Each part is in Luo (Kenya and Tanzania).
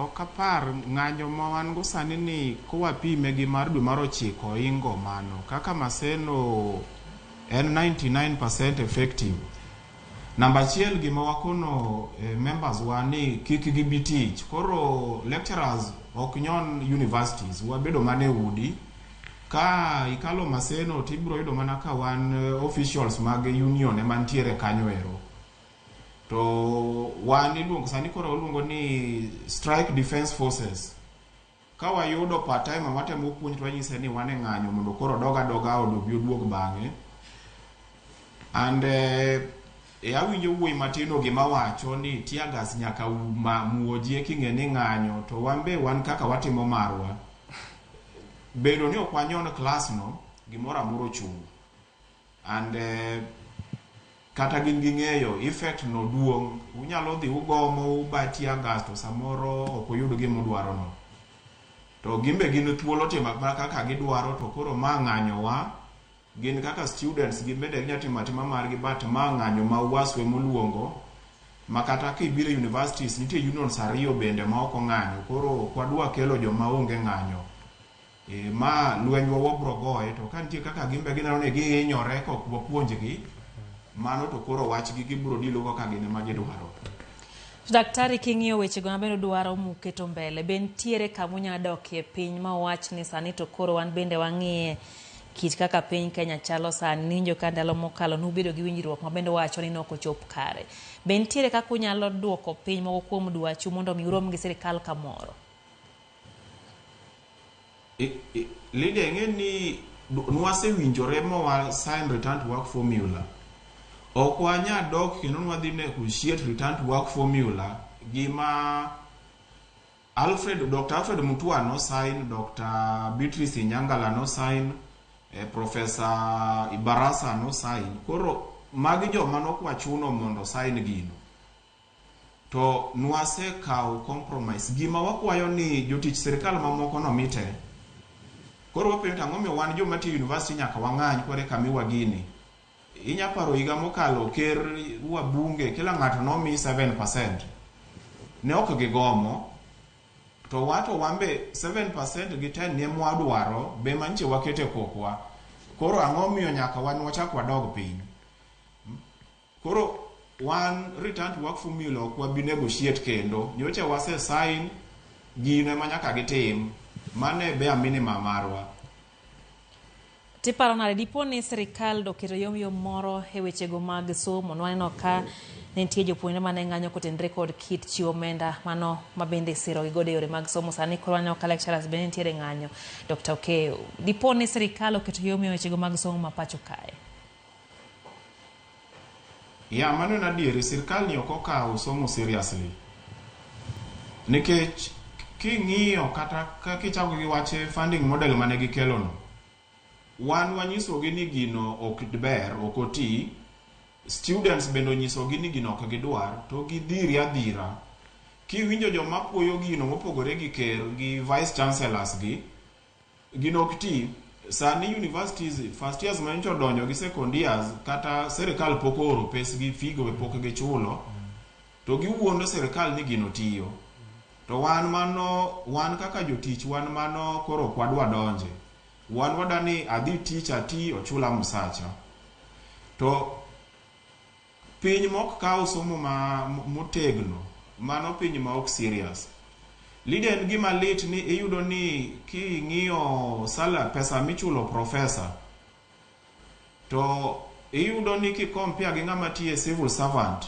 Ok apar ng'anyo ma wan go sani ni kwapime gi mar dwe mar ochiko oingo mano. Kaka Maseno en 99% effective. Namba achiel gima wakono members wa ni kik gibi tich. Koro lecturers ok nyon universities. Wabedo mana e udi. Ka ikalo Maseno to ibiro yudo mana ka wan officials mag union ema nitiere kanyo ero. To wan iluongo sani koro oluongo ni Strike Defense Forces. Ka wayudo part timer matemo puonj to wanyise ni wan e ng'anyo mondo koro odog adoga od obi oduog bang'e. And eh, e awinjo wuoyi matin o gima wacho ni tear gas nyaka u- ma- muoji e king'e ni ng'anyo to wan be wan kaka watimo marwa. Bedo ni ok wanyon klasno gimoro amora ochung'. And kata gin gi ng'eyo effect no duong'. Unyalo dhi ugomo uba tear gas to samoro ok uyud gima udwaro no. To gin be gin thuolo timo mana kaka gidwaro to koro ma ng'anyowa. Gin kaka students gin bende ginya timo atima margi but ma ng'anyo ma UWASU ema oluongo ma kata kibiro e universities nitie unions ariyo bende ma ok ong'anyo koro ok wadwa kelo joma onge ng'anyo. Ee ma lwenywa wabro goye to ka nitie kaka gin be gineno ni gihinyore ka ok wapuonjgi, mano to koro wachgi gibro dilogo ka gin ema gidwaro. To daktari king'iyo wechego mabende udwaro muketo mbele be nitiere kama unya dokie piny ma uwach ni sani to koro wan bende wang'iye kit kaka piny Kenya chalo sani niwinjo ka ndalo mokalo nubedo gi winjruok ma bende uwacho ni nok ochop kare. Be nitiere kaka unyalo duoko piny moko kuom dwachu mondo mi urom gi sirikal kamoro? Lydia ing'e ni nwasewinjore ma wa sign return to work formula ok wanya dok kendo nwadhi negotiate return to work formula gima Alfred, Dr. Alfred Mutua no sign, Dr. Beatrice Inyangala no sign, eh, Professor Ibarasa no sign. Koro magi joma nokwachuno mondo sign gino. To nwase kawo compromise. Gima wakwayo ni jotich sirkal mamoko no mi te. Koro wapenjo to ang'o miyo wan joma tiyo e university nyaka wang'any kore ka miwa gini. Inya paro higa mokalo ker, wabunge, kila ng'ato nomi seven percent. Ne ok gigomo. To wa to wan be seven percent gi ten ni ema wadwaro, be ema nyiche waketo e kokwa. Koro ang'o miyo nyaka wan wachak wadog piny. Koro wan return to work formula ok wabi negotiate kendo. Nyocha wase sign gino ema nyaka gitim. Mano e bare minimum marwa. To iparo nade dipo ni sirkal doketo yom yom moro e wechego mag somo? Nwaneno ka ne nitie jopuonjre mane ng'anyo kotenre kod kit chiwo omenda mano mabende isirogi godo e yore mag somo. Sani koro waneno ka lecturers bende nitiere ng'anyo. Dr. Okeyo, dipo ni sirkal oketo yom yom e wechego mag somo ma pacho kae? Yeah, mano en adieri. Sirkal ni ok okawo somo seriously. Nikech king'iyo kata ka- kichako gi wach funding model mane gikelono, wan wanyisogi ni gino ok ber, ok oti. Students bende onyisogi ni gino ok gidwar, to gidhiri adhira. Kiwinjo joma puoyo gino mopogore gi ker gi vice chancellors gi, Gino ok ti. Sani universities first years manyocha odonjo gi second years kata serikal pok ooro pes gi figo be pok gichulo to giwuondo serikal ni gino tiyo. To wan mano wan kaka jotich wan mano koro ok wadwa donje. Wan wadwa ni adhi tich ati ochula msacha. To Piny mok kaw somo ma motegno mano piny ma ok serious. Lida en gima lit ni iyudo ni king'iyo sala pesa michulo professor to iyudo ni ki compare gi ng'ama tiye civil servant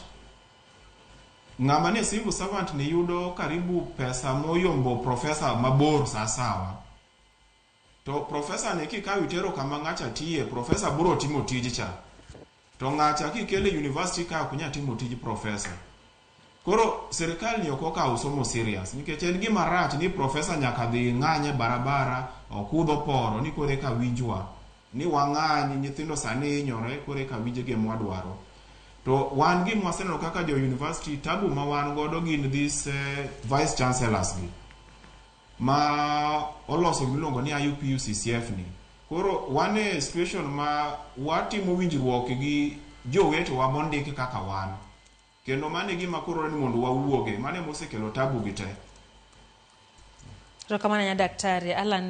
ng'ama ni civil servant ni yudo karibu pesa moyombo professor mabor sasawa. To professor ni kikaw itero kama ng'acha tiye, professor buro timo tij cha. To ng'acha kikele e university ka ok nya timo tij professor. Koro sirkal ni ok okaw somo serious nikech en gima rach ni professor nyaka dhi ng'any e barabara, okudh oporo ni koro eka winjwa. Ni wang'any, nyithindo sani hinyore koro eka winj gima wadwaro. To wan gima waseneno kaka jo university, tabu ma wan godo gin these vice chancellors gi. ma oloso miluongo ni IUPU CCF ni. Koro wan e situation ma watimo winjruok gi jowetewa mondik kaka wan. Kendo mano e gima koro ni mondo wawuoge, mano ema osekelo tabu gi te. Erokamano ahinya Daktari. Allan.